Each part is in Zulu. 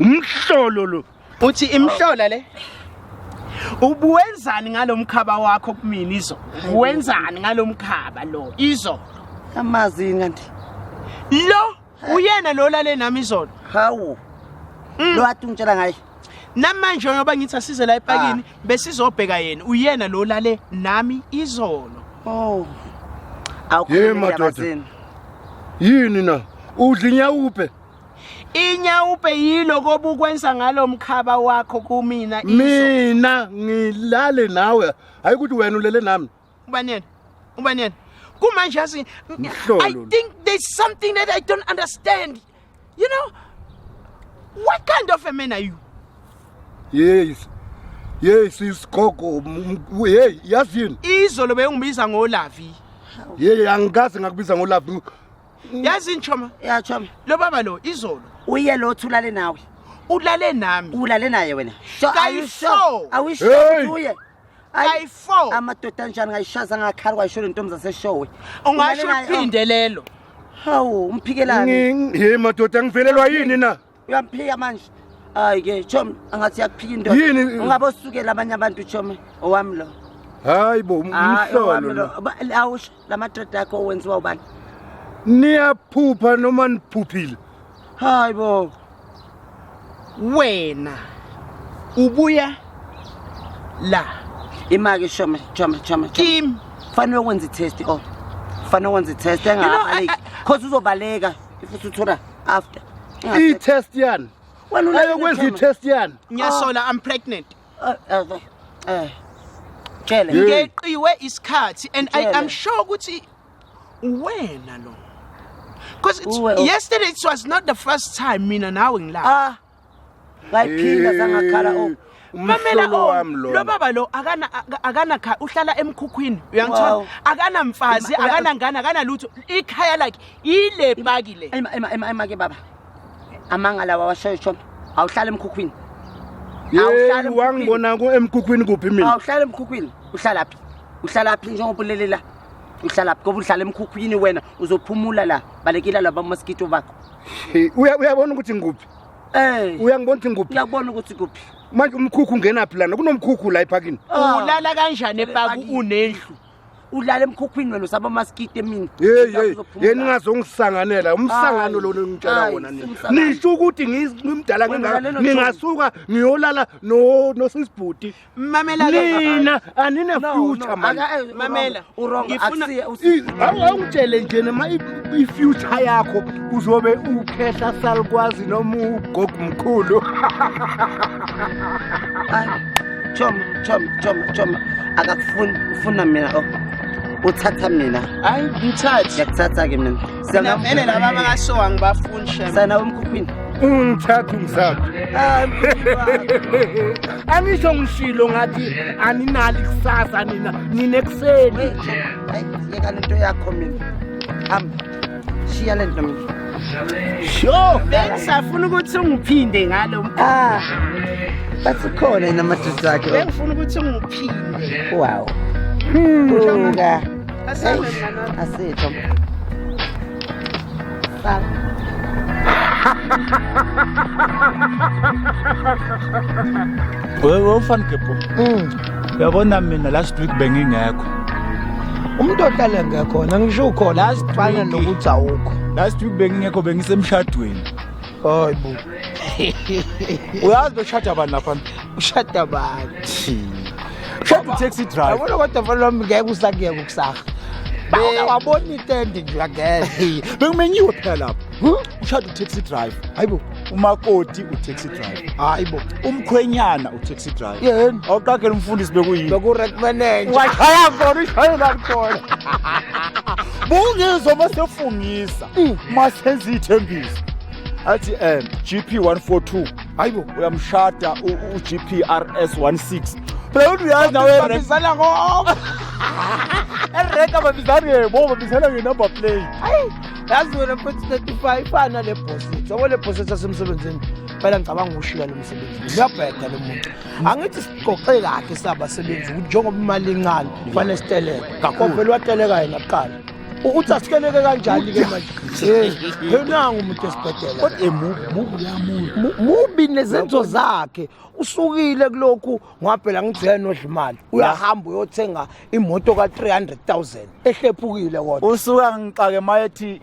umhlolo lo uthi imhlola le ubuwenzani ngalomkhaba wakho kumina izo uwenzani ngalomkhaba lo izo amazi kanti lo uyena lo lale nami izolo hawu mm. lo athi ungitshela ngaye namanje ngoba ngithi asize la epakini ah. besizobheka yena uyena lo lale nami izolo oh awukhulumi madoda yini na udla inyawuphe inyawupe yilo kobukwenza ngalo mkhaba wakho kumina iso mina ngilale nawe hayi ukuthi wena ulele nami ubani yena ubani yena kumanje yazi i Mhlolo. think there's something that i don't understand you know what kind of a man are you yes yes isigogo m- m- hey yazi yini izolo bengibiza ngolavi hey angikaze ngakubiza ngolaphi yazi nchoma ya choma lo baba lo izolo uye lo thulale nawe ulale nami ulale naye wena so are you sure Kayi-four. are we sure Hey! ukuthi uye Ayi, kayi-four amadoda anjani ngayishaza ngakhali kwayisholo intombi zaseshowe ungasho Ulale naye, uphinde lelo hawu umphikelani Ngi- ye madoda ngivelelwa yini na uyamphika manje hayi ke chomi angathi yakuphika indoda Yini? ungabe osukela abanye abantu chomi owami lo hayi bo um- Ah, umhlolo owami lo. lo Ba- awusho la madoda akho owenziwa ubani niyaphupha noma niphuphile hayi bo wena ubuya la imake shoma choma choma kim fanele wenze itest o fanele wenze itest You know, engabaleki cause uzobaleka if usuthola after i test yani wena una ayokwenza i test yani ngiyasola i'm pregnant uh, uh, uh, eh tshele ngeqiwe isikhathi and i am sure ukuthi wena lo because yesterday it was not the first time mina nawe ngilapha ah ngayiphinda zangakhala o mamela Umhlolo o wami lona. lo baba lo akana aka- akana kha uhlala emkhukhwini uyangithola Wow. akana mfazi Ma- akana ngane akana lutho ikhaya lakhe ile paki le Ema ema ema ema ke baba. Amanga lawa washoyo shona. Awuhlala emkhukhwini. Awuhlali Yey, emkhukhwini. wangibona ku- emkhukhwini kuphi mina Awuhlala emkhukhwini. Uhlala phi? Uhlala phi njengoba ulelela? Uhlala phi? Ngoba uhlala emkhukhwini wena uzophumula la. Balekela laba mosquito bakho. Uya uyabona ukuthi ngikuphi? Eh. Uyangibona ukuthi ngikuphi? Ngiyakubona ukuthi kuphi. Manje umkhukhu ungenaphi lana? Kunomkhukhu la ephakini. Ah. Ulala kanjani epaku unendlu? ulala emkhukhwini wena usaba maskite mina hey hey yena ingazongisanganela umsangano lo ngicela wona nini nisho ukuthi ngimdala ngingaka ningasuka ngiyolala no nosisibhuti Mamela nina anina future man. Eh, Mamela urong akusiye awungitshele nje noma i future yakho uzobe ukhehla salukwazi noma ugogo mkhulu. Chom chom chom chom akakufuni ufuna mina oh. uthatha mina hayi ngithathe ngiyakuthatha ke mina Sana vele laba bakashowa ngibafuni shem. Sana umkhuphini. Ungithatha umsapho. Angisho ngishilo ngathi aninali kusasa nina nine kuseni. Hayi yeka lento yakho mina. Am shiya lento mina. Sho, bengisafuna ukuthi ungiphinde ngalo mkhulu. Ah. Bathi khona inamadoda akhe. Bengifuna ukuthi ungiphinde. Wow. Hmm. Asitho. Baba. Wewe ufani gebho. Mm. Uyabona mina last week bengingekho. Umuntu ohlale ngekhona ngisho ukhona last fana nokuthi awukho. Last week bengingekho bengisemshadweni. hayi bo uyazi beshada abantu lapha ushada abantu ushada utaxi driver yabona kodwa mfana wami ngeke usakuyeka ukusaha bawuke wabona itende nje uyangena bekumenyiwe phela lapha ushada utaxi driver hayi bo umakoti utaxi driver hayi bo umkhwenyana utaxi driver yeni awuqagela umfundisi bekuyini bekurek manager washaya khona ushayela khona bungizwa uma sefungisa uma senza iy'thembiso athi um gp 142 hayi bo uyamshada ugp rs 16 phela uthi uyazi nawe babizana ngoba ereka babizana ngebo babizana ngenumber plate yazi wena futhi 35 ifana le bositho yabo le bositho asemsebenzini phela ngicabanga ukushiya lo msebenzi ngiyabheda lo muntu angithi siqoqe kakhe sabasebenzi ukuthi njengoba imali incane kufanele siteleke kakhulu vele wateleka yena kuqala uthi asikeleke kanjani ke manje henangu umuntu esibhedela kodwa mubi yamuntu mubi nezenzo zakhe usukile kulokhu ngwaphela ngijele nodlimali uyahamba uyothenga imoto ka 300000 ehlephukile kodwa usuka ngixake mayethi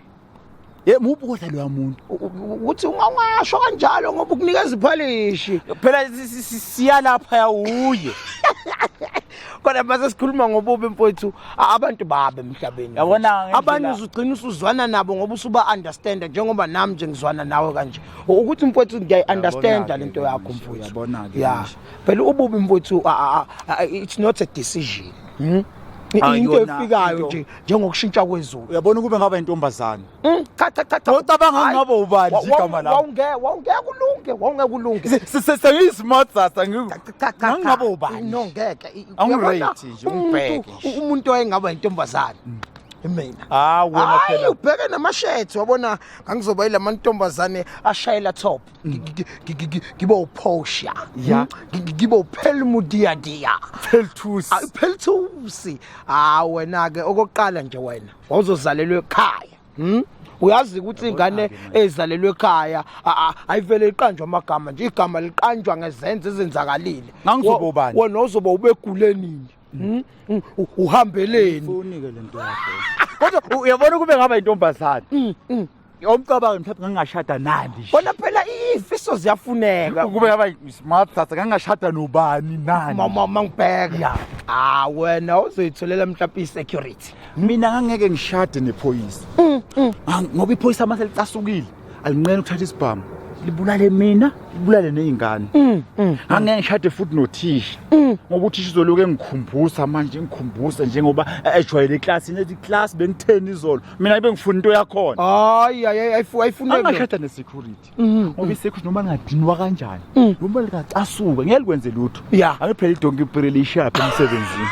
Ye muphi kodwa loya muntu? Uthi ungawangasho kanjalo ngoba ukunikeza iphalishi. Phela siyalapha yawuye. Kodwa mase sikhuluma ngobubi mfowethu abantu babe emhlabeni. Yabona abanye uzugcina usuzwana nabo ngoba usuba understand njengoba nami nje ngizwana nawe kanje. Ukuthi mfowethu ngiyayi understand lento yakho mfowethu. Yabona ke. Yeah. Phela ububi mfowethu it's not a decision. Hmm? Into efikayo nje njengokushintsha kwezulu uyabona ukube ngaba intombazane mm, cha cha cha cha wocabanga ngingaba ubani nje igama lakho wawunge wawungeke ulunge wawungeke ulunge sengiyi smart sasa ngingaba ubani no ngeke angirate nje umbheke umuntu oyengaba intombazane mm. imina ah wena phela ubheke namashethi wabona ngangizoba yilamantombazane ashayela top ngibe uphosha ya ngibe uphelmudiyadiya phelthusi phelthusi ha ah, wena ke okokuqala nje wena wawuzozalelwa ekhaya hm uyazi ukuthi ingane ezalelwe ekhaya ayivele iqanjwe amagama nje igama liqanjwa ngezenzo ezenzakalile ngangizobobani wena uzoba ubegule nini hmm? Hmm? uhambeleni kodwa uyabona kube ngaba intombazane hmm, Yomcabanga mthatha ngangashada nandi nje. Bona phela ifiso ziyafuneka. Ukube yaba smart thatha ngangashada nobani nani. Mama mangibheka. Yeah. Ah wena uzoyitholela mhlawumbe i-security. Mina ngangeke ngishade nephoyisa. Mm, mm. Ah, ngoba iphoyisa uma selicasukile alinqeni ukuthatha isibhamu. libulale mina libulale nezingane mm, mm, angeke ngishade futhi nothisha mm. ngoba uthisha uzoloku engikhumbusa manje ngikhumbusa njengoba ejwayele eclassini ethi class bengitheni izolo mina ibe ngifuna into yakhona hayi ayifuni angashada ne-security mhm. ngoba i-security noma ngadinwa kanjani mm. noma likacasuka ngeke likwenze lutho ake phela idonki ipirele ishaphe emsebenzini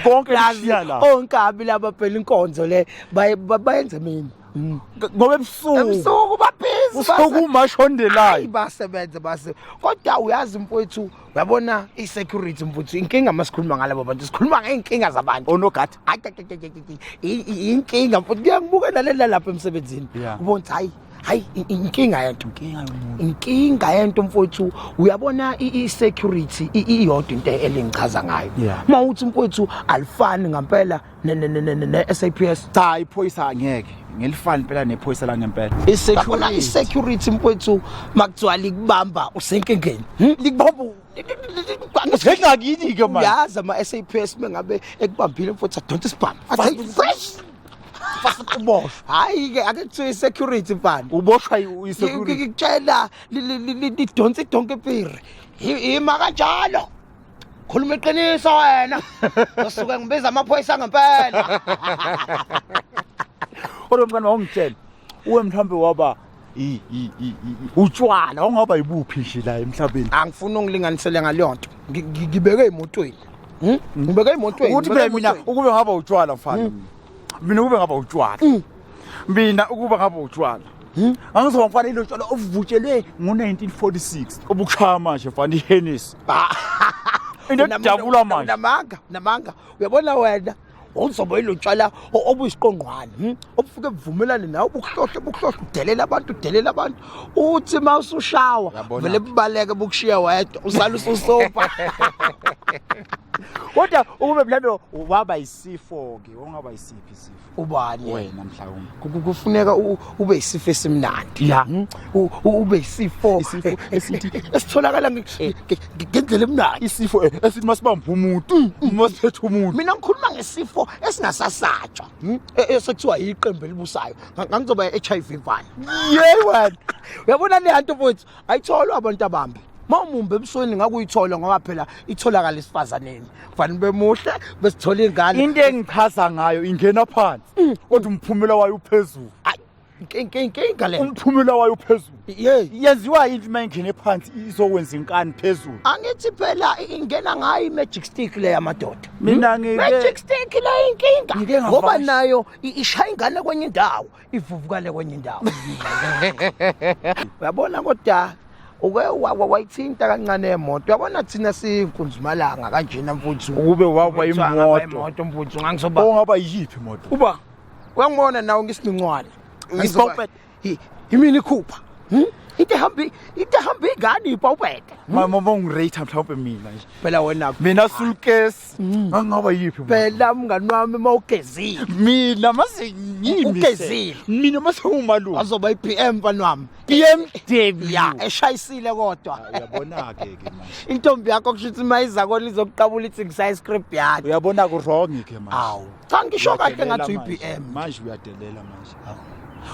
konke lishiya la onkabi laba phela inkonzo le bayenze mina mm. ngoba ebusuku ebusuku babhizi usuku umashondelayo basebenze base kodwa uyazi mfowethu uyabona i-security mfowethu inkinga masikhuluma ngalabo bantu sikhuluma ngey'nkinga zabantu onogadi inkinga mfowethu ngiyakubuka nalela lapha emsebenzini ubona ukuthi hayi hayi inkinga yento inkinga yento mfowethu uyabona i-security iyodwa into elingichaza ngayo uma uthi mfowethu alifani ngampela ne-saps cha iphoyisa angeke ngelifani impela nephoyisa la ngempela i-security mfowethu makuthiwa likubamba usenkingeni hmm? likubamba ngengakini ke manje yazi ama SAPS mengabe ekubambile mfowethu adonsa isibhamu athi fresh fast uboshwa hayi ke ake kuthiwe security mfana uboshwa isecurity ngikutshela lidonsa idonke ipiri ima kanjalo khuluma iqiniso wena usuke ngibiza amaphoyisa ngempela Kodwa mfana wawungitshela uwe mhlawumbe waba utshwala ongaba yibuphi nje la emhlabeni angifuni ungilinganisele ngaleyo nto ngibeke emotweni hmm? hmm. ngibeke emotweni ukuthi phela mina ukube ngaba utshwala mfana hmm. mina ukube ngaba utshwala mina ukube ngaba utshwala angizoba mfana ilo tshwala ovutshelwe ngo-1946 obukushaya manje mfana ihenisi into edabula manje namanga namanga uyabona wena wawuzoba ilotshwala obuyisiqongqwane hmm? obufike buvumelane nawe bukuhlohle bukuhlohle udelela abantu udelela abantu uthi uma usushawa vele bubaleke bukushiya wedwa usala ususopa kodwa ukube mhlawumbe waba yisifo-ke wongaba yisiphi isifo ubani wena mhlawumbe kufuneka ube yisifo esimnandi ya hmm? ube yisifo eh, eh, esitholakala eh, ngendlela emnandi isifo eh, esithi masibamba umuntu mm, mm. masiphethe umuntu mina ngikhuluma ngesifo esingasasatshwa hmm? e, e, sekuthiwa yiqembu elibusayo ngangizoba HIV vana yey wena uyabona le hanto mfowethu ayitholwa abantu abambi mawumumbe ebusweni ngakuyithola ngoba phela itholakala esifazaneni kufanele bemuhle besithola ingane into engichaza ngayo ingena phansi mm. kodwa umphumela wayo uphezulu inkinga le umphumela wayo phezulu Yey. yenziwa yini uma ingene phansi izokwenza inkani phezulu angithi phela ingena ngayo i-magic stick le yamadoda Mina Hmm? ngike- magic stick le Ngike inkinga ngavakasha. ngoba nayo i- ishaya ingane kwenye indawo ivuvukale kwenye indawo uyabona kodwa uke wa- wa- wayithinta kancane emoto uyabona thina sinkunzimalanga kanjena mfuthu ukube waba Kuthiwa ngaba imoto imoto mfuthu ngangizoba ongaba yiyiphi imoto uba uyangibona nawe ngisiningcwala ngisipopet yimini ikhupha hmm? into ehamba into ehamba ingane ipopeta hmm? mama bongirate mhlawumbe mina nje phela wena mina sulkes hmm. ngangaba yipi phela mngani wami mawugezile mina masengimi ugezile mina masewumalume azoba iPM banwami PM Debi ya eshayisile kodwa uyabona ke ke manje intombi yakho kushuthi mayiza kolizokuqabula ithi ngisaya script yakhe uyabona ku wrong ke manje awu cha ngisho kahle ngathi uyi-bm manje uyadelela manje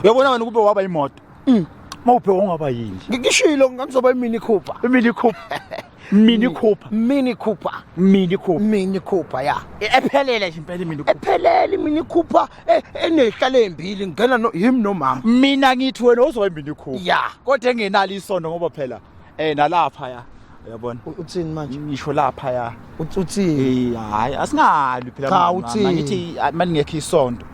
uyabona wena ukube waba imoto mm. mawuphe wongaba yini ngishilo ngangizoba imini cooper imini cooper mini cooper mini cooper mini cooper mini cooper ya e, ephelele nje impela mini cooper ephelele mini cooper e, enehlale embili ngena no him nomama mina ngithi wena uzoba imini cooper ya kodwa engenalo isondo ngoba phela eh nalapha ya uyabona U- uthini manje ngisho lapha ya Uth- uthini Eh, hayi asingalwi phela Cha, mama. uthini? ngithi ah, malingekho isonto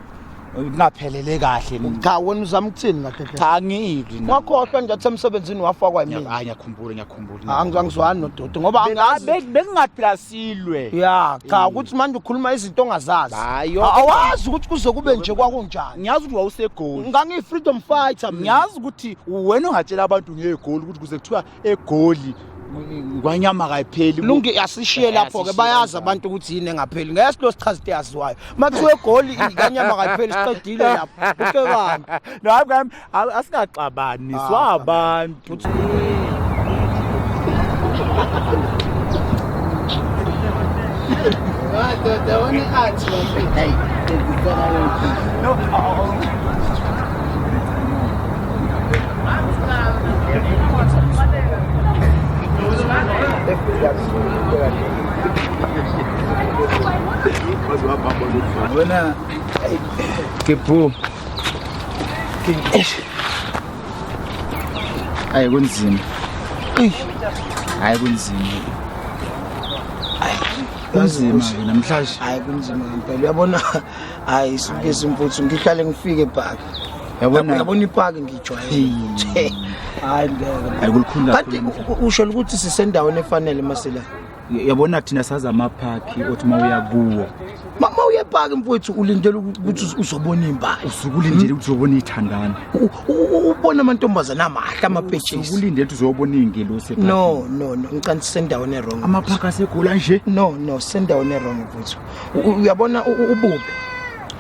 ngingaphelele kahle mina. cha wena uzama ukuthini kahle kahle cha angilwi na. wakhohlwa nje athi emsebenzini wafakwa Ngiya- yimina hayi ngiyakhumbula ngiyakhumbula Angi- angizwani nodoti ngoba angazi bengingaphila silwe ya cha ukuthi manje ukhuluma izinto ongazazi Hayi, A- awazi ukuthi kuze kube nje kwakunjani ngiyazi ukuthi wawusegoli ngangiyi-freedom fighter mina ngiyazi ukuthi wena ungatshela abantu ngegoli ukuthi kuze kuthiwa egoli ngwanyama kayipheli lungi asishiye lapho ke bayazi abantu ukuthi yini engapheli ngeke silo sichaza into yaziwayo makuthiwa egoli inganyama kayipheli siqedile lapho uhlekani no hayi ngami asikaxabani ah, swabantu Madoda, wani athi wafika. Hey, ngizicela wena. No. Buena. Qué pu. Hayi kunzima. Hayi kunzima. Kunzima namhlanje. Hayi kunzima ngempela. Uyabona hayi suke simfuthu ngihlale ngifike epaki yabona yabona ipaki ngijwayele hayi ngeke hayi kulikhulu kanti usho ukuthi sisendaweni efanele masela yabona thina saza amaphakhi othi uma uya kuwo mama uye epaki mfowethu ulindele ukuthi uzobona impahla usuke ulindele ukuthi uzobona ithandana ubona amantombazana amahle amapetshisi usuke ulindele ukuthi uzobona izingelosi no no no ngicanti sendaweni erong amaphakhi asegula nje no no sendaweni erong mfowethu uyabona ububi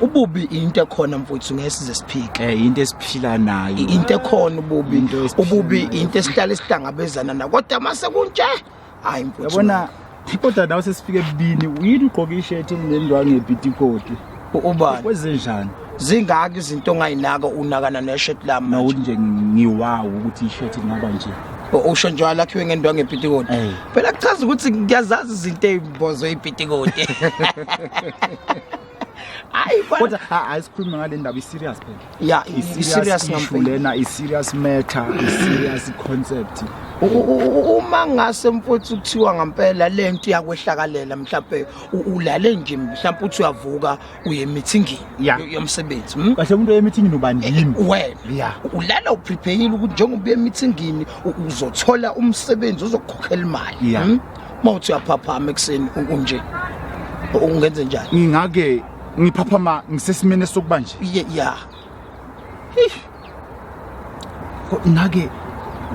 ububi into ekhona mfuthu ngesize siphike eh into esiphila nayo into ekhona ububi ububi into esihlala isihlangabezana na kodwa mase kunje hayi mfuthu yabona kodwa nawe sesifike ebudini uyini ugqoke i-shirt enendwange ebhitikoti ubani kwezenjani zingaki izinto ongayinaka unakana neshirt lami no nje ngiwawo ukuthi ishirt ingaba nje usho nje walakhiwe ngendwangu epitikoti phela kuchaza ukuthi ngiyazazi izinto ezibozwe ipitikoti hayi kodwa asikhulume ngale ndaba i-serious phela ya i-serious ngampulena i-serious matter i-serious concept uma ngase mfowethu kuthiwa ngampela lento yakwehlakalela mhlawumbe ulale nje mhlawumbe uthi uyavuka uye emithingini Ya. yo- yomsebenzi hmm? kahle umuntu oyemithingini ubani yini wena Ya. ulala uprepeyile ukuthi njengoba uye emithingini u- uzothola umsebenzi ozokukhokhela imali Ya. hmm? uma uthi uyaphaphama ekuseni u- unje ungenze njani ngingake ngiphaphama ngisesimeni esokubanje Ye- ya Eish. Ngake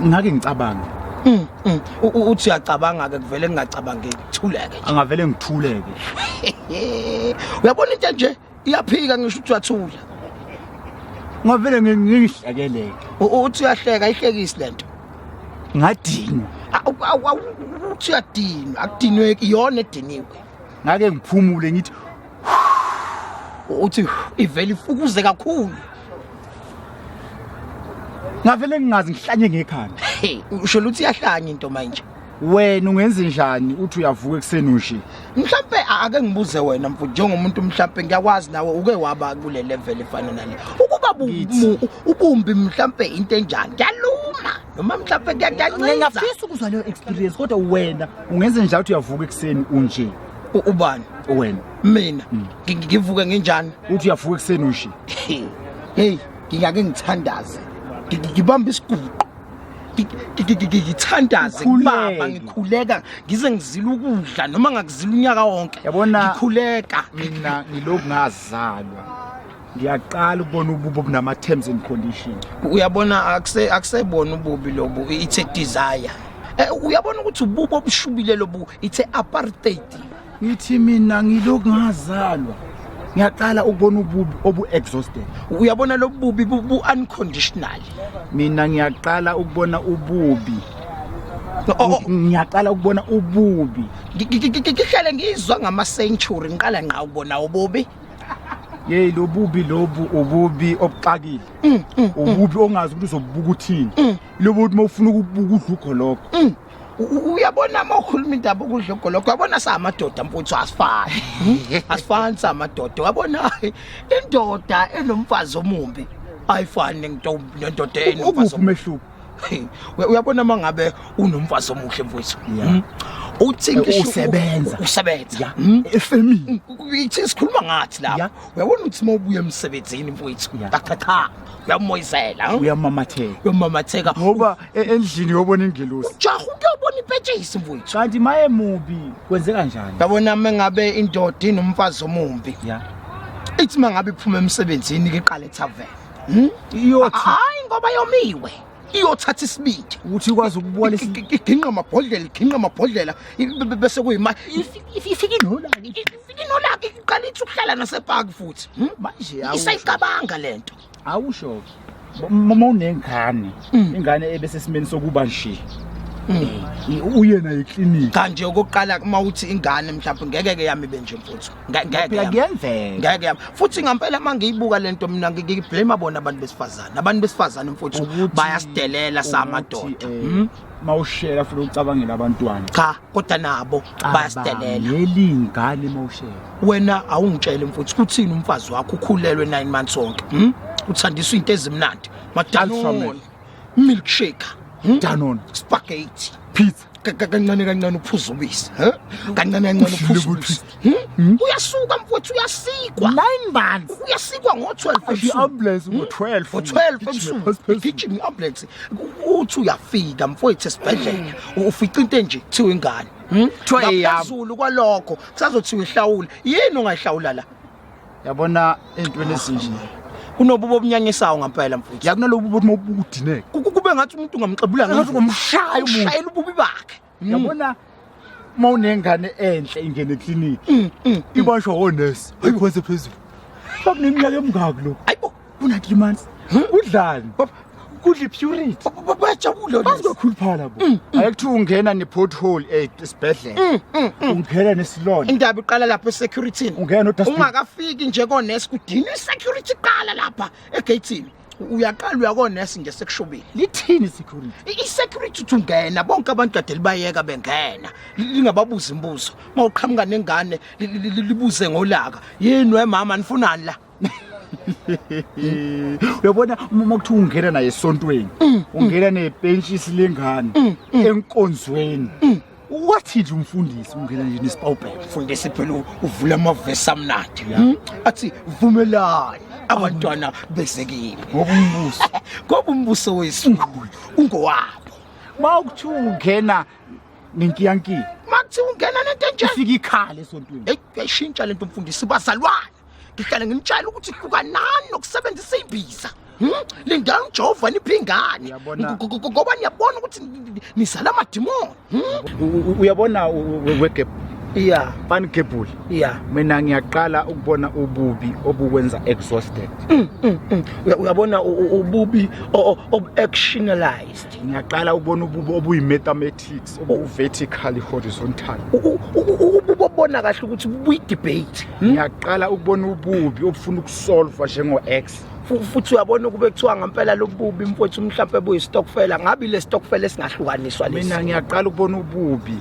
ngake ngicabanga. Mm. mm. Uthi uyacabanga ke kuvele ngingacabangeki. Thuleke. Angavele ngithuleke. Uyabona into nje iyaphika ngisho ukuthi uyathula. Ngavele ngingihlekeleke. Uthi uyahleka ihlekisi lento. Ngadini. Uthi uyadinwa, akudinweki iyona ediniwe. Ngake ngiphumule ngithi uthi ivele ifukuze kakhulu ngavele ngingazi ngihlanye ngekhanda usho ukuthi iyahlanya into manje wena ungenze njani uthi uyavuka ekuseni nje mhlambe ake ngibuze wena mfo njengomuntu mhlambe ngiyakwazi nawe uke waba kule level efana nale ukuba ubumbi mhlambe into enjani yaluma noma mhlambe kuyancika ngiyafisa ukuzwa leyo experience kodwa wena ungenze njani uthi uyavuka ekuseni unje U- ubani wena mina ngi- ngi- ngivuke nginjani uthi uyafuka ekuseni ushi heyi ngingake ngithandaze Ngi- ngi- ngibambe isiguqo Ngi- ngi- ngi- ngi- ngithandaze Ukhuleke. kubaba ngikhuleka ngize ngizile ukudla noma ngakuzila unyaka wonke Yabona- ngikhuleka mina ngilokhu ngazalwa ngiyaqala ukubona ububi obunama terms and conditions uyabona akuse akusebona ububi lobu it's a desire eh, uyabona ukuthi ububi obushubile lobu it's a apartheid ngithi mina ngilokhu ngazalwa ngiyaqala ukubona ububi obu-exhausted uyabona lobu bubi bu-unconditional mina ngiyaqala ukubona ububi oh, oh. ngiyaqala ukubona ububi ngihlale ngizwa ngama-century ngiqala nqa ukubona ububi yeyi lobubi lobu ububi obuxakile mm, mm, mm. ububi ongazi ukuthi uzobubuka uthini lobo ukuthi uma ufuna ukubuka udla ugoloko uyabona uma ukhuluma indaba okudla ugoloko uyabona samadoda mfuthu asifani hmm? asifani samadoda uyabona indoda enomfazi omumbi ayifani nendoda enomfazi omumbi uyabona uma ngabe unomfazi omuhle mfowethu hmm? uthi eh, usebenza usebenza hmm? efemini ithi sikhuluma ngathi lapha uyabona ukuthi uma ubuya emsebenzini mfowethu qaqaqha uyamoyizela hmm? uyamamatheka uyamamatheka ngoba e, endlini uyobona ingelosi jaha uyobona ipetshisi mfowethu kanti maye mubi kwenze kanjani yabona uma ngabe indoda inomfazi omumbi ithi uma ngabe iphuma emsebenzini ke qale tavern Hmm? Iyothi hayi ngoba yomiwe. Iyothatha isibindi ukuthi ikwazi ukubona iginqa amabhodlela, iginqa amabhodlela bese kuyima ifike inolaki, ifike inolaki iqala ithi ukuhlala nasepark futhi. Hmm? Manje isayicabanga lento. Awusho. Mama unengane, hmm. ingane ebesesimeni sokuba nje. uyena yeklinika kanje okokuqala uma uthi ingane mhlawumbe ngeke ke yami benje mfuthu ngeke kuyenzeka ngeke yami futhi ngempela uma ngiyibuka lento mina ngiyiblame bona abantu besifazane abantu besifazane mfowethu bayasidelela samadoda eh, hmm? mawushela futhi ucabangela abantwana cha kodwa nabo bayasidelela ngelingane mawushela wena awungitshele mfowethu kuthini umfazi wakho ukhulelwe 9 months onke hmm? uthandiswa into ezimnandi madalon milkshake hmm? danon spaghetti pizza kancane kancane uphuza ubisi kancane kancane uphuza ubisi hmm? Hmm? uyasuka mfowethu uyasikwa nine months uyasikwa ngo-12 i-ambulance hmm? ngo-12 ngo-12 ebusuku igijima i-ambulance uthi uyafika mfowethu esibhedlela ufica into enje kuthiwa ingane kuthiwa eyaphezulu kwalokho kusazothiwa ihlawule yini ongayihlawula la yabona entweni ezinje kunobubo obunyanyisayo ngampela mfowethu yakunalobu ukuthi mawubudineke kube ngathi umuntu ungamxebula ngathi ngomshaya umuntu shayela ububi bakhe mm. yabona mawunengane enhle ingene eclinic mm, mm, ibanjwa wonesi ayikhonse phezulu bakuneminyaka emingaki lokho Una 3 months. Udlani? Kudli purity. Bajabule lezi. Bazokhuluphala bo. Mm, mm. Ayekuthiwa ungena ne pothole eh, esibhedlela. Mm, ungena nesilonda. Indaba iqala lapha esecurity. Ungena no dustbin. Ungakafiki nje ko nurse kudini security iqala lapha egatini. uyaqala uyakonesi nje sekushubile lithini security i-security uthi ungena bonke abantu kade libayeka bengena lingababuza imibuzo uma uqhamuka nengane libuze ngolaka yini wemama nifunani la uyabona uma kuthiwa ungena naye esontweni mm, mm. ungena nepentshisi lengane mm, enkonzweni wathini umfundisi ungena nje nesipawubhela mfundisi phela uvula amavesi amnandi hmm? athi vumelani abantwana bezekile ngoba umbuso ngoba umbuso wesungulu ungowabo uma ukuthiwa ungena nenkiyankiya uma kuthiwa ungena nento enjani ufika ikhale esontweni eyi yayishintsha le nto mfundisi bazalwane ngihlale nginitshela ukuthi hlukanani nokusebenzisa imbiza Hmm? lindani ujehova niphe ingane Uyabona- Ngo- ngo- ngoba niyabona ukuthi ni- ni- nizala amadimoni Hmm? U- u- uyabona wegebhula iya banigebhula iya mina ngiyaqala ukubona ububi obukwenza exhausted Uya- uyabona u- u- ububi o- o- obu-actionalized ngiyaqala ukubona ububi obuyimetamet Politics oku vertical horizontal. Ubona kahle ukuthi buyi debate. Hmm? Ngiyaqala ukubona ububi obufuna ukusolve njengo X. futhi uyabona ukube kuthiwa ngempela lobubi mfowethu mhlawumbe buyistokfela ngabe le stokfela esingahlukaniswa lesi mina ngiyaqala ukubona ububi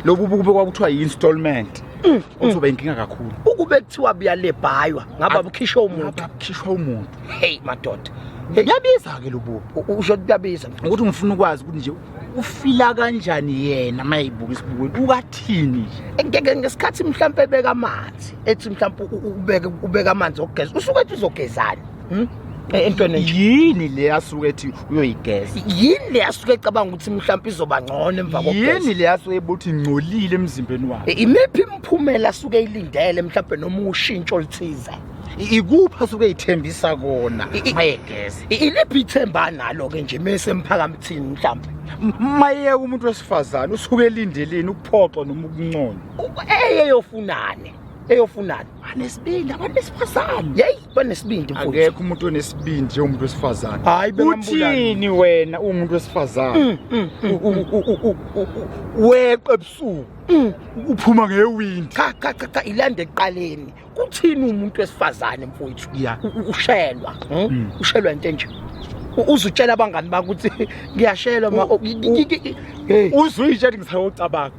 lobu bukube kwakuthiwa yi-installment mm, mm. ozoba inkinga kakhulu ukube kuthiwa buyalebhaywa ngaba bukhishwa umuntu bukhishwa umuntu hey madoda kuyabiza-ke lobubi usho kuyabiza ukuthi ngifuna ukwazi ukuthi nje ufila kanjani yena uma eyibuka isibukweni ukathini nje ngesikhathi mhlawumpe ebeka amanzi ethi mhlawumpe ubeka amanzi okugeza usuke ethi uzogezani hmm? Eh, entweni yini le asuke ethi uyoyigeza yini le asuke ecabanga ukuthi mhlawumbe izoba ngcono emva kokugeza yini le asuke ebuthi ngcolile emzimbeni wakhe eh, imiphi imiphumela asuke eyilindele mhlawumbe noma ushintsho oluthize ikuphi asuke eyithembisa kona mayegeza iliphi ithemba analo-ke nje mese emphakamuthini mhlawumbe mayeyeka umuntu wesifazane usuke elindeleni ukuphoxwa noma ukunconywa eyeyofunane eyofunana anesibindi abantu besifazane yeyi banesibindi akekho umuntu onesibindi njengomuntu wesifazane hayi uthini wena uwumuntu wesifazane mm, mm, mm, weqe ebusuku uphuma ngewindi cha cha cha ilande eqaleni kuthini umuntu wesifazane mfowethu Yeah. U- u- ushelwa hmm? Mm. ushelwa into enje U- uzutshela abangani bakho ukuthi ngiyashelwa ma- U- ngi- ngi- ngi- hey, uzuyitshe ethi ngisayocabanga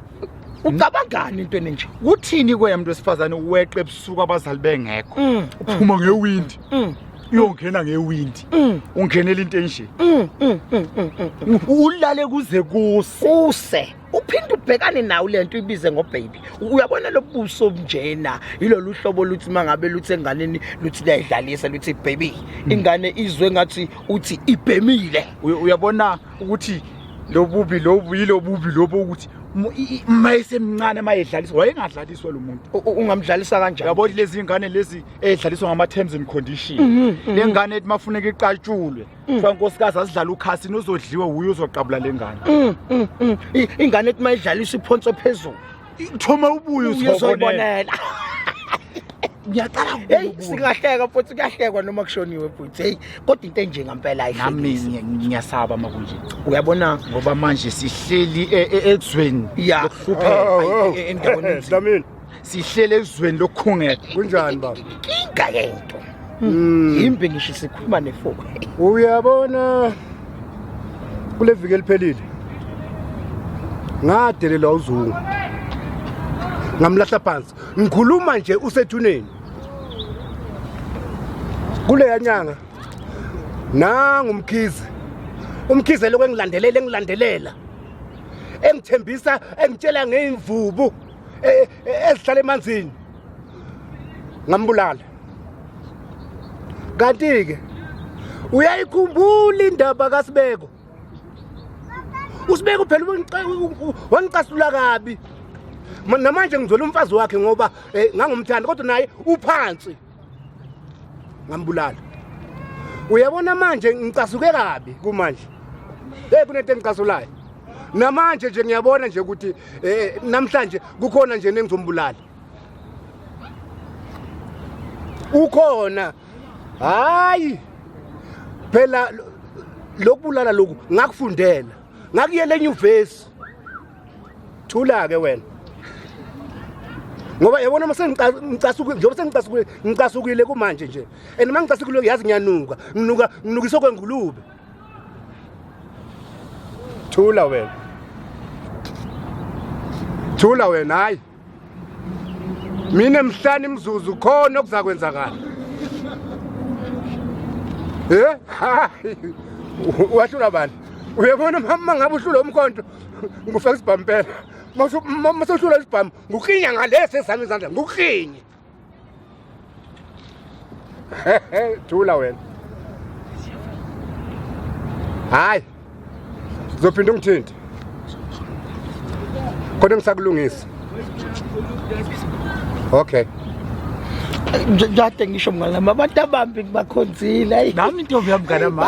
ucabangani into enenje kuthini kwena muntu wesifazane weqe ebusuku abazali bengekho Mm, uphuma ngewindi mm, uyongena ngewindi mm, ungenela into enje mm, mm, mm, mm, mm. ulale kuze kuse kuse uphinde ubhekane nawo lento ibize ngobaby uyabona lobuso njena yilolu hlobo luthi mangabe luthi enganeni luthi liyayidlalisa luthi baby hmm. ingane izwe ngathi uthi ibhemile uyabona ukuthi lobubi lobu yilobubi lobo ukuthi mayesemncane mayedlaliswa wayengadlaliswa lo muntu ungamdlalisa kanjani yabo lezi ngane lezi edlaliswa ngama terms and condition mhm, mhm. lengane ethi mafuneka iqatshulwe Mm. kuthiwa nkosikazi asidlala ukhasini uzodliwe wuye uzoqabula le ngane Mm, mm, mm. I- ingane ethi mayidlalisa iphonso phezulu thoma ubuye uzoyibonela uzoyibonela ngiyaqala heyi singahleka futhi kuyahlekwa noma kushoniwe bhuti heyi kodwa into enje ngampela nami ayihlekisi ngiya- ngiyasaba makunje uyabona ngoba manje sihleli e- e- ezweni Ya. lokuhlupheka, Oh, oh, e- e- endaweni enzima. Dlamini. sihlele ezweni lokukhungela kunjani baba inga yento hmm. yimbe ngisho sikhuluma nefo uyabona kule viki eliphelile ngadelelwa uzungu ngamlahla phansi ngikhuluma nje usethuneni kuleya nyanga nangumkhize umkhize lokho engilandelela engilandelela engithembisa engitshela ngeyimvubu eh, eh, ezihlala emanzini ngambulala kanti-ke uyayikhumbula indaba kasibeko usibeko phela wangicasula kabi namanje ngizwela umfazi wakhe ngoba um ngangumthanda kodwa naye uphansi ngambulala uyabona manje ngicasuke kabi kumanje hey kunento engicasulayo namanje nje ngiyabona nje ukuthi eh namhlanje kukhona nje nengizombulala ukhona hayi phela lokubulala lokhu ngakufundela ngakuyela enyuvesi thula ke wena ngoba yabona mase ngicasukile njengoba sengicasukile ngicasukile kumanje nje and uma ngicasukile ngiyazi ngiyanuka nginuka nginukiswa kwengulube thula wena thula wena hayi mina emhlani imzuzu khona okuzakwenzakala eh hayi wahlula bani uyabona mama ngabe uhlula umkhonto ngifaka isibhampela masohlula isibhamu ngukhinya ngalesi esami izandla ngukhinye thula wena hayi zophinda ungithinti kodwa ngisakulungisa okay Jade ngisho mnganami abantu abambi ngibakhonzile ayi nami intombi yami mnganami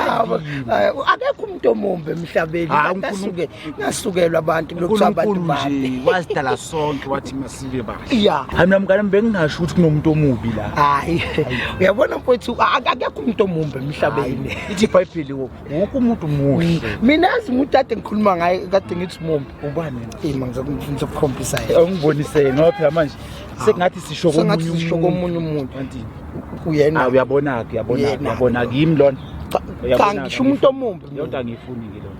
akekho umuntu omumbi emhlabeni basuke ngasukelwa abantu lokuthiwa abantu babi wasidala sonke wathi masibe bahle ya hayi mina mngane bengingasho ukuthi kunomuntu omubi la hayi uyabona mfowethu akekho umuntu omumbi emhlabeni ithi ibhayibheli wonke umuntu muhle mina azi umuntu kade ngikhuluma ngaye kade ngithi mumbi ubani ima ngizokukhombisa yena ungibonise ngoba phela manje sekungathi sisho komunye umuntu uyena ah, uyabona-ke uyabona-ke uyabona-ke yimi lona cha ngisho umuntu omumbi lento angiyifuni-ke lona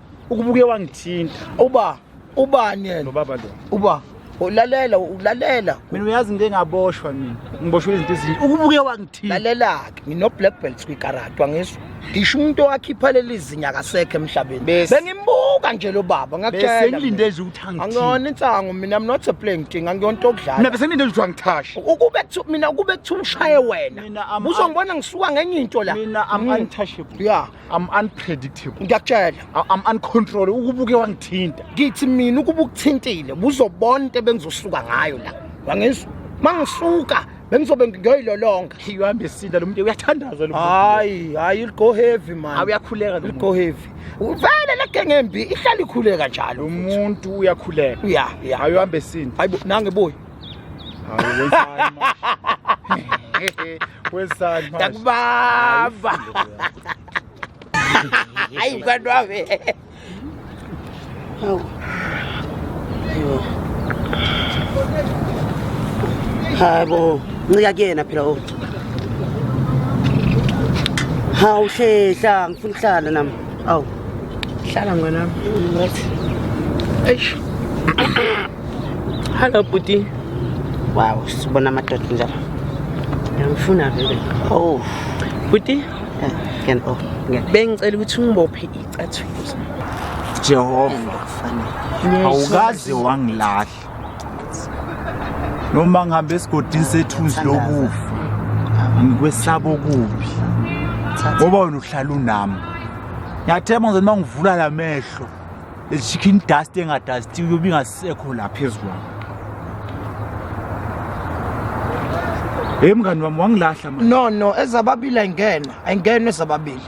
ukubuke wangithinta uba ubani yena ubaba lo uba ulalela ulalela mina uyazi into engaboshwa mina ngiboshwe izinto ezinye ukubuke wangithinta lalela-ke ngino-black belts kwikarati wangisho ngisho umuntu owakhipha leli zinya akasekho emhlabeni Bese. bengimbuka nje lo baba ngakutshela besengilinde mina. nje ukuthi angithinta angiyona insango mina i'm not a playing thing angiyona into mina okudlala besengilinde nje ukuthi wangithashe ukube kuthiwa- mina ukube kuthiwa ushaye wena Mina, I'm- uzongibona ngisuka ngenye into la mina am Mm. untouchable ya I'm unpredictable. Ngiyakutshela. I- I'm uncontrollable. Ukubuke wangithinta. Ngithi mina ukuba ukuthintile buzobona into ebengizosuka ngayo la. Wangizwa. Mangisuka bengizobe ngiyoyilolonga. You are mesinda lo muntu uyathandaza lo. Hayi, hayi go heavy man. Hayi uyakhuleka lo. Go heavy. Uvele le gang embi ihlala ikhuleka njalo. Lo muntu uyakhuleka. Yeah, yeah. Hayi uhambe sinda. Hayibo nange boy. takubamba hayi mkwantu wami hayi bo ncika kuyena phela o hawu hlehla ngifuna ukuhlala nami awu hlala ngwenami eish Hello bhuti. Wow, sibona amadoda njalo. Ngiyamfuna vele. Oh. Bhuti. Eh, ngene oh, ngene. Bengicela ukuthi ungibophe icathuzo. Jehova. Awukaze wangilahla. Noma ngihambe esigodini sethuzi lokufa. Ngikwesaba okubi. Ngoba wena uhlala unami. Ngiyathemba ngizothi mangivula lamehlo. chicken dust engadastiwe yobe ingasekho la phezu kwami heyi mngani wami wangilahla manje no no ezababili ayingena ayingena ezababili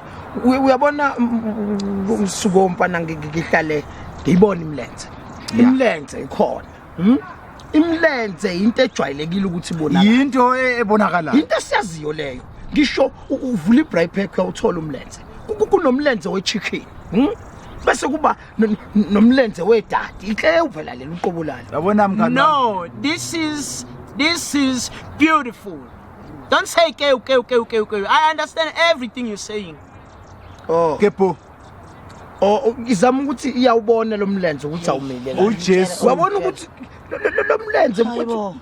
Uy- uyabona m- m- m- umsuko womfana ngi- ngi- ngihlale ngiyibona imilenze imilenze ikhona Hmm? Imlenze into ejwayelekile ukuthi ibonakala. Yinto e-, ebonakalayo. Into esiyaziyo leyo. Ngisho uvula i-braai pack uyawuthola umlenze. Kunomlenze we-chicken. Hmm? bese kuba nomlenze wedadi inhle uvela leli uqobo lalo yabona mngani no this is this is beautiful don't say ke ke ke ke ke i understand everything you're saying oh kepo Oh, oh, ngizama ukuthi iyawubona lo mlenze ukuthi awumile kahle. uJesu Wabona ukuthi lo- lo- lo- lo mlenze Hayibo.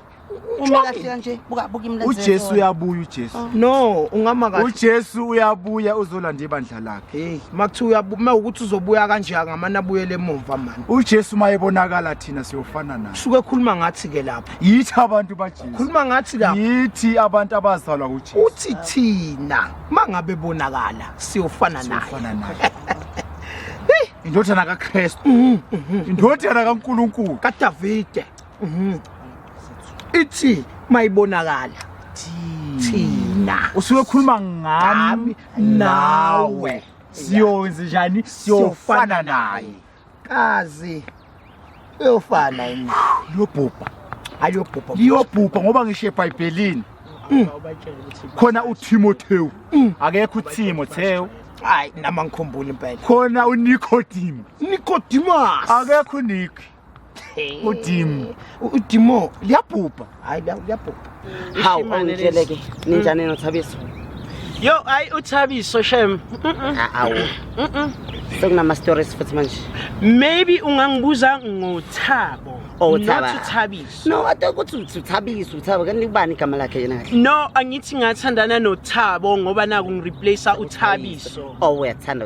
Uma kahle kanje buka buka imlenze. uJesu uyabuya uJesu no ungama kahle. uJesu uyabuya uzolanda ibandla lakhe Hey, makuthiwa uyabu- uma ukuthi uzobuya kanje angamane abuyele emuva mani. uJesu uma ebonakala thina siyofana naye Suke khuluma ngathi ke lapha. yithi abantu baJesu Khuluma ngathi lapha. yithi abantu abazalwa uJesu Uthi thina uma ngabe bonakala siyofana naye Siyofana naye. indodana kakristu Mhm, mhm. indodana kankulunkulu kadavide Mhm. ithi mayibonakala thina usuyokhuluma ngami Ngami, nawe nawe. siyowenze njani siyofana naye kazi uyofana yini lobhubha aliyobhubha liyobhubha ngoba ngisho ebhayibhelini mm. khona utimotewu mm. akekho utimotewu hayi nama ngikhumbula impela khona unikodimo nikodimasi akekho uniki udim udimo liyabhubha hayi liyabhubha hawu ongitshele ke ninjani nothabiso yo hayi uthabiso shem awu sekunama-stories futhi manje maybe ungangibuza ngothabo othabuthabiso no ade ukuthi uthabiso uthabo kanti kubani igama lakhe yena kahle no angithi ngathandana nothabo ngoba naku ngireplace uthabiso owe oh, athanda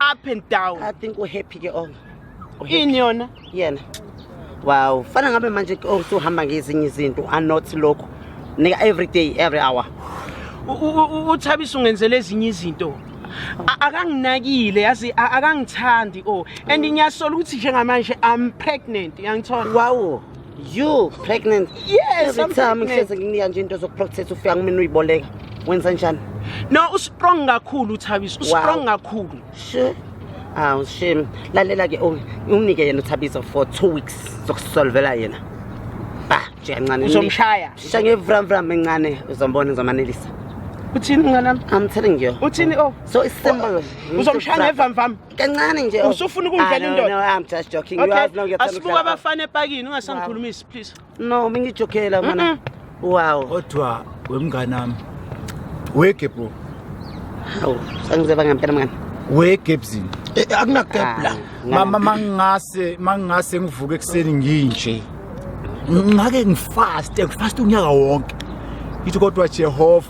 up and down i think uhappy ke onga ini yona yena wow fana ngabe manje ke onga uhamba ngezinye izinto are not lokho nika every day every hour uthabisa ungenzele ezinye izinto akanginakile yazi akangithandi o oh. and ngiyasola ukuthi njengamanje i'm pregnant yangithola wawo You pregnant? Yes, Every I'm time pregnant. ngihlezi nginika nje into zokuprocess ufika kumina uyiboleka. Wenza njani? No, ustrong kakhulu uThabiso. Ustrong kakhulu. Sure. Awu shame. Lalela ke Omi, unike yena uThabiso for 2 weeks zokusolvela yena. Ba, nje kancane. Uzomshaya. Sha ngevram vram encane uzombona uzomanelisa. Uthini mnganami? I'm telling you. Uthini oh? So it's simple. Uzomshaya ngevamvama. kancane nje oh. usufuna ukungidlela ah, indoda no, no, I'm just joking okay. you have no get asibuka abafana epakini ungasangikhulumisi please no mingijokela mana mm -mm. wow kodwa wemngane wami wege bro hawu sangizeba ngempela mngane wege ebzini eh, eh, akunagap la ah, mama mangase mangase ngivuke ekuseni nginje ngake ngifaste ngifaste unyaka wonke ngithi kodwa Jehova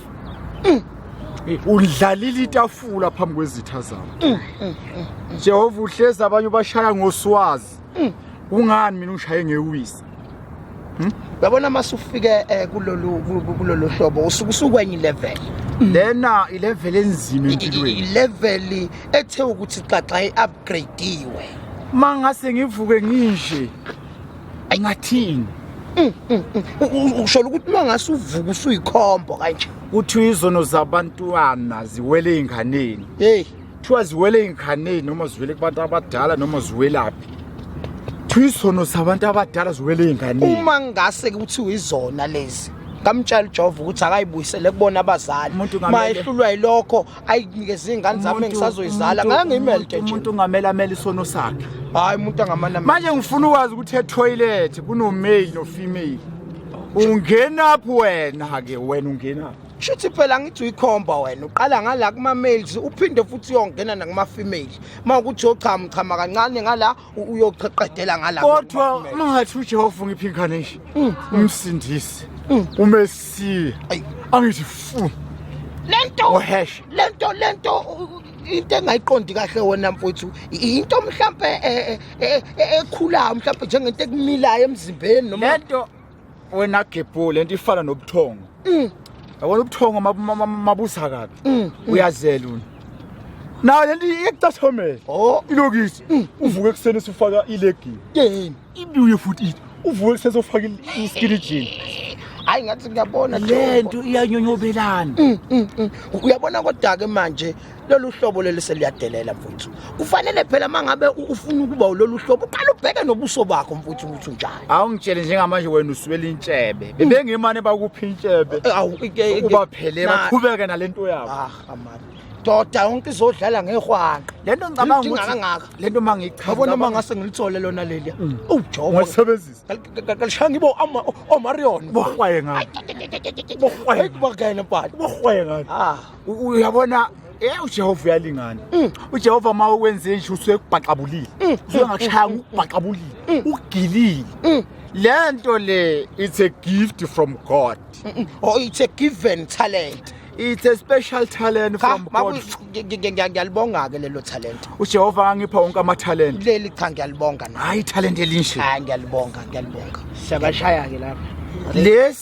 mm. undlalile itafula phambi kwezitha zabo mm, mm, mm, jehova uhlezi abanye ubashaya ngoswazi kungani mina ungishaye ngewisa hmm? yabona uma sufike eh, kulolu hlobo usuke usukwenye ilevel lena ilevel enzima empilweni ilevel ethe ukuthi xaxa i-upgradiwe uma ngase ngivuke nginje ngathini mm, mm, mm. ushola ukuthi uma ngase uvuka usuyikhombo kanje kuthiwa izono zabantwana ziwele ey'nganeni heyi kuthiwa ziwele ey'nganeni noma ziwele kubantu abadala noma ziwelaphi kuthiwa izono zabantu abadala ziwele ey'nganeni uma ngase kuthiwa izona lezi ngamtshela ujova ukuthi akayibuyisele kubona abazali Umuntu ngamele- mayehlulwa yilokho ayinikeze ingane zami engisazoyizala ngangimelde nje umuntu ungamela amela isono sakhe hayi umuntu angamana manje ngifuna ukwazi ukuthi etoilet kuno male no female ungena phi wena ke wena ungena shuthi phela ngithi uyikhomba wena uqala ngala kuma males uphinde futhi uyongena nakuma female uma ukuthi yochama uchama kancane ngala uyoqedela ngala kodwa mangathi uJehova ngiphi incarnation mm. umsindisi mm. umesiya angithi fu lento ohesh lento lento into engayiqondi kahle wona mfowethu into mhlambe ekhulayo mhlambe njengento ekumilayo emzimbeni noma lento wena gebhu lento ifana nobuthongo mm. yabona ubuthongo mabusa kabi mm, mm. uyazela una nayo lento iyekucathomela oh. ilokisi uvuke ekuseni usufaka ilegini yini ibuye futhi ithi uvuke ekuseni usufaka iskini jean hayi ngathi ngiyabona lento iyanyonyobelana uyabona kodwa-ke manje lolu hlobo leli seliyadelela mfuthu kufanele phela mangabe ufuna ukuba lolu hlobo uqala ubheke nobuso bakho mfuthu ukuthi unjani awungitshele njengamanje wena uswela intshebe mm. bebengimane bakuphi intshebe eh, ubaphele baqhubeke nalento yabo ah amani doda yonke izodlala ngehwanqa lento ngicabanga ukuthi kangaka lento mangichaza yabona uma ngase ngilithole lona leli mm. ujobo ngisebenzisa kalishanga ibo ama omarion bohwaye ngani bohwaye kubakene pali bohwaye ngani ah uyabona Eh uJehova uyalingana. Mm. UJehova uma ukwenze nje usuyekubhaqabulile. Mm. Usuyangashaya mm. ukubhaqabulile. Ugilile. Le nto le it's a gift from God. Oh it's a given talent. It's a special talent from God. Ngiyalibonga ke lelo talent. UJehova angipha wonke ama talent. Leli cha ngiyalibonga na. Hayi talent elinje. Hayi ngiyalibonga ngiyalibonga. Siyabashaya ke lapha. Lesi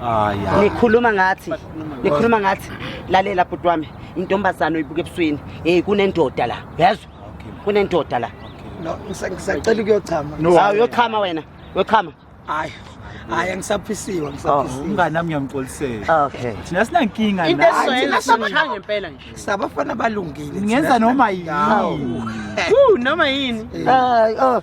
Hayi. Nikhuluma ngathi. Nikhuluma ngathi. Lalela bhuti wami, intombazana oyibuka ebusweni. Hey kunendoda la. Yezwa? Kunendoda la. No, ngisacela ukuyochama. Hawu yochama wena. Yochama. Hayi. Hayi ngisaphisiwe ngisaphisiwe. Oh, umngane nami ngiyamxolisela. Okay. Thina sinankinga la. Into esoyela sishaya ngempela nje. Sabafana balungile. Ngenza noma yini. Woo noma yini. Hayi oh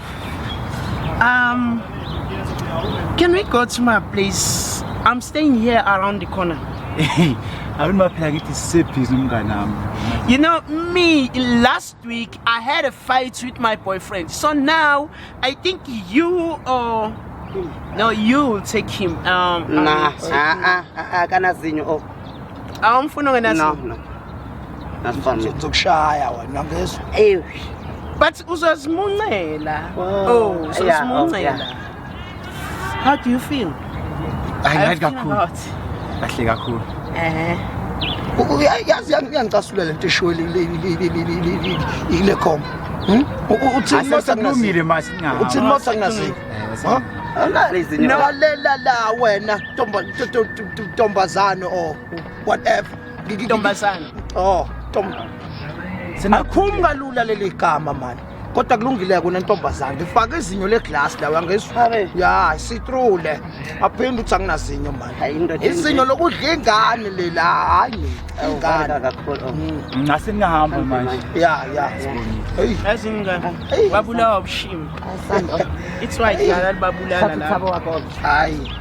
Um, can we go to my place? I'm staying here around the corner. Abin ma fila kiti sepi zumga nam. You know me, last week I had a fight with my boyfriend. So now I think you or no, you take him. Um, nah, ah, ah, ah, ah, kana zinyo. Oh. awumfuni ongenazo no no nasifana zokushaya wena ngezwe eyi but uzozimuncela oh uzozimuncela oh, oh, how do you feel i like kakhulu kahle kakhulu eh yazi yangicasula lento eshiwe le khomba uthini motha kulungile manje uthini motha kunasini eh, no lela la wena Tomba, to, to, to, to, tombazane or whatever. Tombazane. Oh, tom. Sinakhuluma kalula leli gama manje. Kodwa kulungile kona ntombazane. Ngifaka izinyo leglass la wangizwa. Ya, sitrule. Aphinde uthi anginazinyo manje. Izinyo lokudla ingane lela hayi. Ingane kakhulu. Ngase ngihamba manje. Ya, ya. Hey. Azingane. Babulawa ubushimi. It's right yala libabulala la. Thabo wakho. Hayi.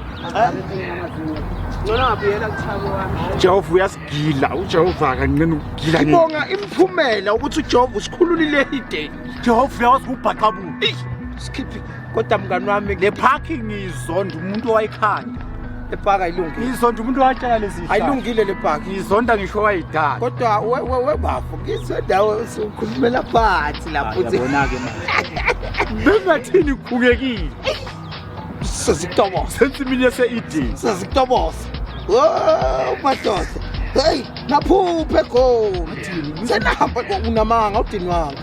Ngona ngabuyela kuthabo wami. Jehova uyasigila, uJehova akancane ukugila. Ngibonga imphumela ukuthi uJehova usikhululile ideni. Jehova uyawazi ubhaqa bu. Isikhithi kodwa mngani wami le parking izonda umuntu owayikhanda. Le park ayilungile. Ngizonda umuntu watshela lezi zinto. Ayilungile le park. Ngizonda ngisho wayidala. Kodwa we we we bafo ngizonda ukhulumela phansi lapho. Yabona ke manje. Bengathini khukekile. Sesitobosa. Sensimini yase ED. Sesitobosa. Oh madoda. Hey, naphuphe khona. Senahamba unamanga udinwanga.